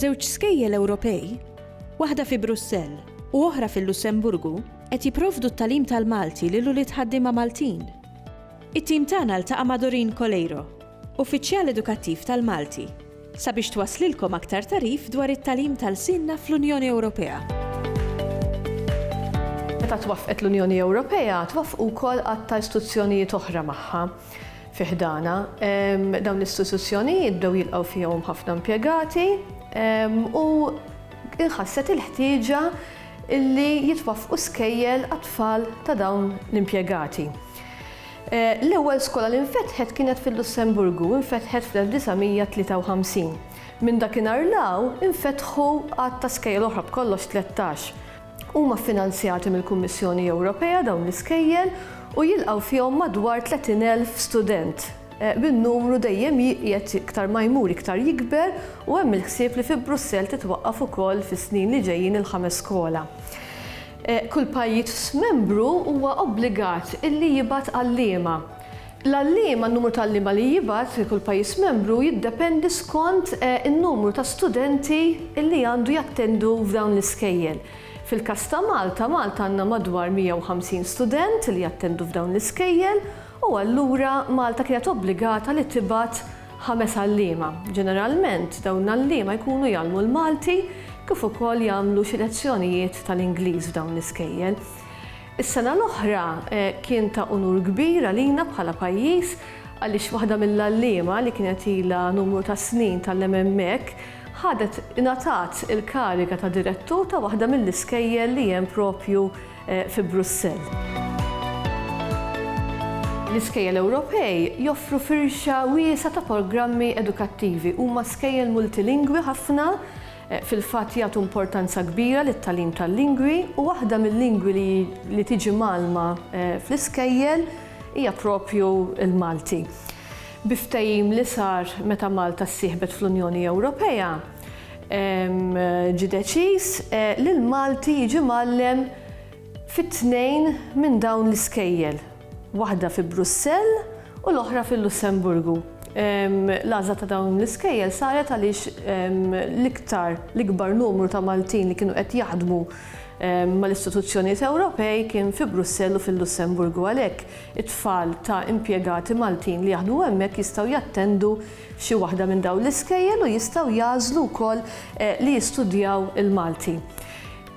Żewġ skejjel Ewropej, waħda fi Brussell u oħra fil-Lussemburgu, qed jipprovdu t-tagħlim tal-Malti lil ulied ħaddiema Maltin. It-tim tagħna ltaqa' ma' Doreen Coleiro, Uffiċjal Edukattiv tal-Malti. Sabiex twasslilkom aktar tagħrif dwar it-tagħlim ta' lsienna fl-Unjoni Ewropea. Meta twaffqet l-Unjoni Ewropea, twaffqu wkoll għadd ta' istituzzjonijiet oħra magħha fi ħdanha. Dawn l-istituzzjonijiet bdew jilqgħu fihom ħafna impjegati u nħasset il-ħtieġa li jitwaffqu skejjel għat-tfal ta' dawn l-impjegati. L-ewwel skola li nfetħet kienet fil-Lussemburgu u nfetħet fl-1953. Minn dakinhar 'l hawn infetħu għadd ta' skejjel oħra, b'kollox tlettax. Huma ffinanzjati mill-Kummissjoni Ewropea dawn l-iskejjel u jilqgħu fihom madwar 30 elf student, bin-numru dejjem jiqiegħed iktar ma jmur iktar jikber u hemm il-ħsieb li fi Brussell titwaqqaf ukoll fis-snin li ġejjin il-ħames skola. Kull pajjiż membru huwa obbligat illi jibgħat għalliema. L-għalliema, n-numru ta' għalliema li jibgħat kull pajjiż membru jiddependi skont in-numru ta' studenti illi għandu jattendu f'dawn l-iskejjel. Fil-każ ta' Malta, Malta għandna madwar 150 student li jattendu f'dawn l-iskejjel u allura Malta kienet obbligata li tibgħat ħames għalliema. Ġeneralment dawn l-għalliema jkunu jgħallmu l-Malti kif ukoll jagħmlu xi lezzjonijiet tal-Ingliż f'dawn l-iskejjel. Is-sena l-oħra kien ta' unur kbir għalina bħala pajjiż għaliex waħda mill-għalliema li kienet ilha numru ta' snin tgħallem hemmhekk ħadet ingħatat il-kariga ta' direttur ta' waħda mill-iskejjel li hemm propju fi Brussell. L-iskejjel Ewropej joffru firxa wiesgħa ta' programmi edukattivi. Huma skejjel multilingwi ħafna, fil-fatt jagħtu importanza kbira lit-tagħlim tal-lingwi u waħda mil-lingwi li li tiġi mgħallma fl-iskejjel hija proprju l-Malti. Bi ftehim li sar meta Malta ssieħbet fl-Unjoni Ewropea, Ġie deċiż li l-Malti jiġi mgħallem fi tnejn minn dawn l-iskejjel, waħda fi Brussell u l-oħra fil-Lussemburgu. L-għażla ta' dawn l-iskejjel saret għaliex l-iktar l-ikbar numru ta' Maltin li kienu qed jaħdmu mal-istituzzjonijiet Ewropej kien fi Brussell u fil-Lussemburgu għalhekk it-tfal ta' impjegati Maltin li jaħdmu hemmhekk jistgħu jattendu f'xi waħda minn dawn l-iskejjel u jistgħu jagħżlu wkoll li jistudjaw il-Malti.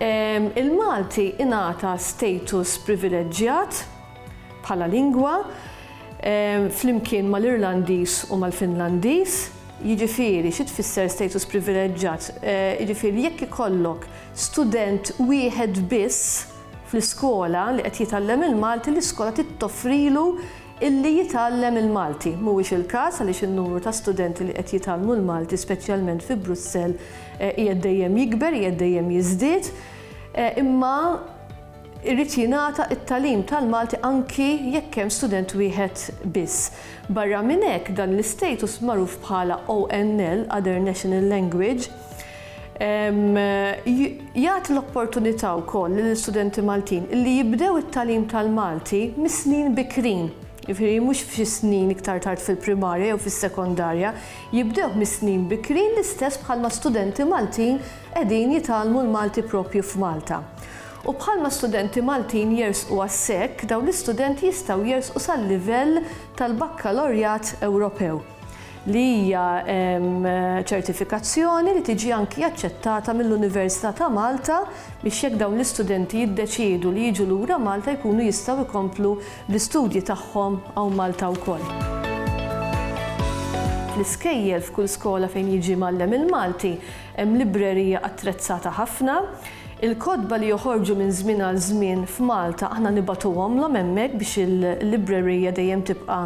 Il-Malti ingħata status privileġġjat bħala lingwa flimkien mal-Irlandiż u mal-Finlandiż, jiġifieri xi tfisser status privileġġjat, jiġifieri jekk ikollok student wieħed biss fl-iskola li qed jitgħallem il-Malti, l-iskola trid toffrilu illi jitgħallem il-Malti. Mhuwiex il-każ għaliex in-numru ta' studenti li qed jitgħallmu l-Malti speċjalment fi Brussell qiegħed dejjem jikber, qiegħed dejjem jiżdied, imma jrid jingħata t-tagħlim tal-Malti anki jekk hemm student wieħed biss. Barra minn hekk dan l-istatus magħruf bħala ONL, Other National Language, Jagħti l-opportunità wkoll lill-istudenti Maltin li jibdew it-tagħlim tal-Malti mis-snin bikrin, jiġifieri mhux f'xi snin iktar tard fil-primarja jew fis-sekondarja, jibdewh mis-snin bikrin l-istess bħalma studenti Maltin qegħdin jitgħallmu l-Malti proprju f'Malta. U bħalma studenti Maltin jersqu għas-SEC, dawn l-istudenti jistgħu jersqu sal-livell tal-Bakkalorjat Ewropew. li hija ċertifikazzjoni li tiġi anki aċċettata mill-Università ta' Malta biex jekk dawn l-istudenti jiddeċiedu li jiġu lura Malta jkunu jistgħu jkomplu bl-istudji tagħhom hawn Malta wkoll. Fl-iskejjel f'kull skola fejn jiġi mgħallem il-Malti hemm librerija attrezzata ħafna. Il-kotba li joħorġu minn żmien għal żmien f'Malta aħna nibgħatuhomlhom hemmhekk biex il-librerija dejjem tibqa'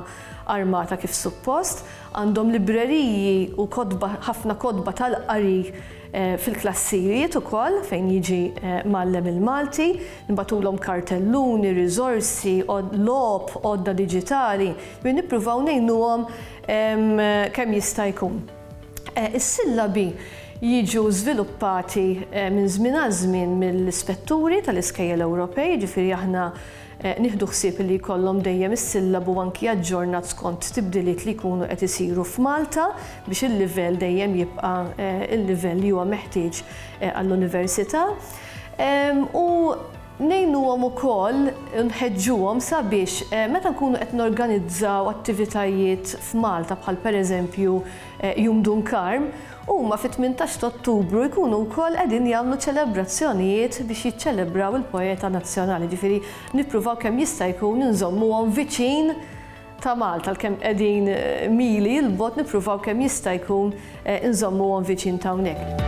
armata kif suppost, għandhom libreriji u kotba, ħafna kotba tal-qari fil-klassijiet ukoll fejn jiġi mgħallem il-Malti, nibgħatulhom kartelluni, riżorsi, logħob, għodda diġitali, ġifieri nippruvaw ngħinuhom kemm jista' jkun. Is-sillabi jiġu żviluppati minn żmien għal żmien mill-ispetturi tal-iskejjel Ewropej, ġifieri aħna Nieħdu ħsieb li jkollhom dejjem is-sillabu anki aġġornat skont tibdiliet li jkunu qed isiru f'Malta biex il-livell dejjem jibqa' l-livell li huwa meħtieġ għall-Università. U ngħinuhom ukoll u nħeġġuhom sabiex meta nkunu qed norganizzaw attivitajiet f'Malta bħal pereżempju Jum Dun Karm, Huma fit-tmintax ta' Ottubru jkunu wkoll qegħdin jagħmlu ċelebrazzjonijiet biex jiċċelebraw il-poeta nazzjonali, ġifieri nippruvaw kemm jista' jkun inżommuhom viċin ta' Malta għalkemm qegħdin mili 'l bogħod nippruvaw kemm jista' jkun inżommuhom viċin ta' hawnhekk.